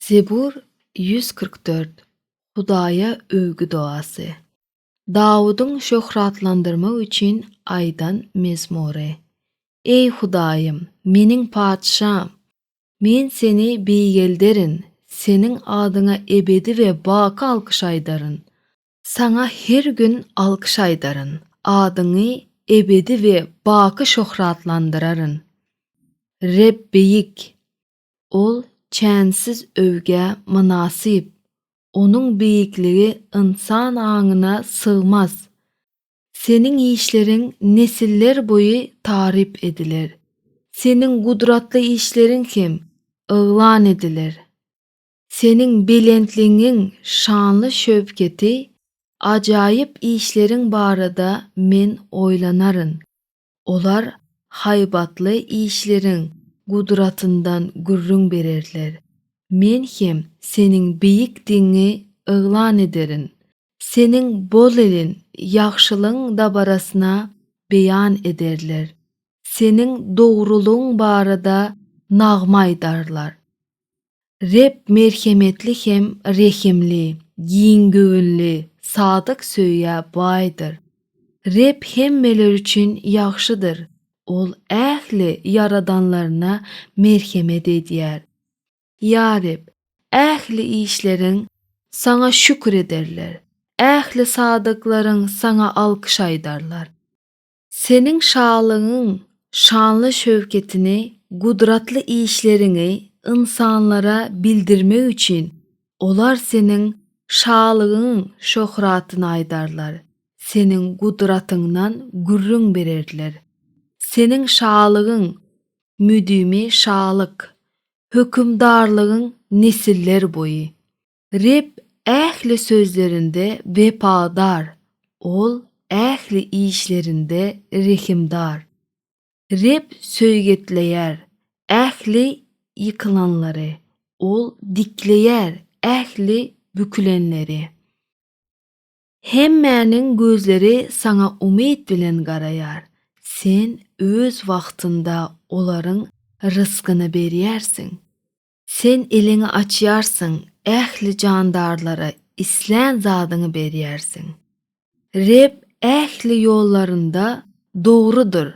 Zebur ýüz kyrk dört Hudaýa öwgi dogasy. Dawudyň şöhratlandyrmak üçin aýdan mezmury. Eý Hudaýym, meniň Patyşam! Men Seni beýgelderin, Seniň adyňa ebedi we baky alkyş aýdaryn. Saňa her gün alkyş aýdaryn, adyňy ebedi we baky şöhratlandyraryn. Reb beýik! Ol çänsiz öwgä mynasyp, Onuň beýikligi ynsan aňyna sygmaz. Seniň işleriň nesiller boýy taryp ediler, Seniň gudratly işleriň hem yglan ediler. Seniň belentligiň şanly-şöwketi, ajaýyp işleriň barada men oýlanaryn. Olar haýbatly işleriň gudratyndan gürrüň bererler. Men hem Seniň beýikdigiňi yglan ederin. Seniň bolelin ýagşylygyň dabarasyna beýan ederler. Seniň dogrulygyň barada nagma aýdarlar. Reb merhemetli hem rehimli, giň göwünli, sadyk söýgä baýdyr. Reb hemmeler üçin ýagşydyr, Ol ähli ýaradanlaryna merhemet edýär. Ýa Reb, ähli işleriň Saňa şükür ederler, ähli sadyklaryň Saňa alkyş aýdarlar. Seniň şalygyň şanly şöwketini, gudratly işleriňi ynsanlara bildirmek üçin, olar seniň şalygyň şöhratyny aýdarlar, seniň gudratyňdan gürrüň bererler. Seniň şalygyň müdimi şalyk, hökümdarlygyň nesiller boýy. Reb ähli sözlerinde wepadar, Ol ähli işlerinde rehimdar. Reb söýgetleýär ähli ýykylanlary, Ol dikleýär ähli bükülenleri. Hemmäniň gözleri saňa umyt bilen garaýar, Sen öz wagtynda olaryň rysgyny berýärsiň. Sen eliňi açýarsyň ähli jandarlara islän zadyňy berýärsiň. Reb ähli ýollarynda dogrudyr,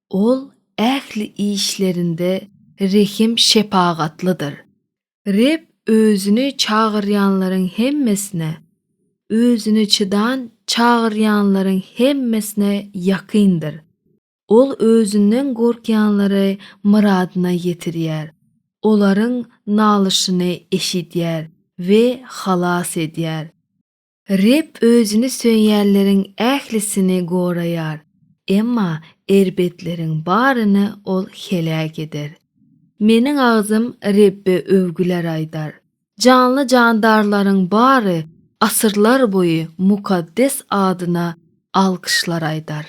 Ol ähli işlerinde rehim-şepagatlydyr. Reb Özüni çagyrýanlaryň hemmesine, Özüni çydan çagyrýanlaryň hemmesine ýakyndyr. Ol özünden gorkýanlary myradyna ýetirýär, olaryň nalyşyny eşidýär we halas edýär. Reb Özüni söýýänleriň ählisini goraýar, emma erbetleriň baryny Ol heläk eder. Meniň agzym Rebbe öwgüler aýdar, Janly-jandarlaryň bary asyrlar boýy mukaddes adyna alkyşlar aýdar.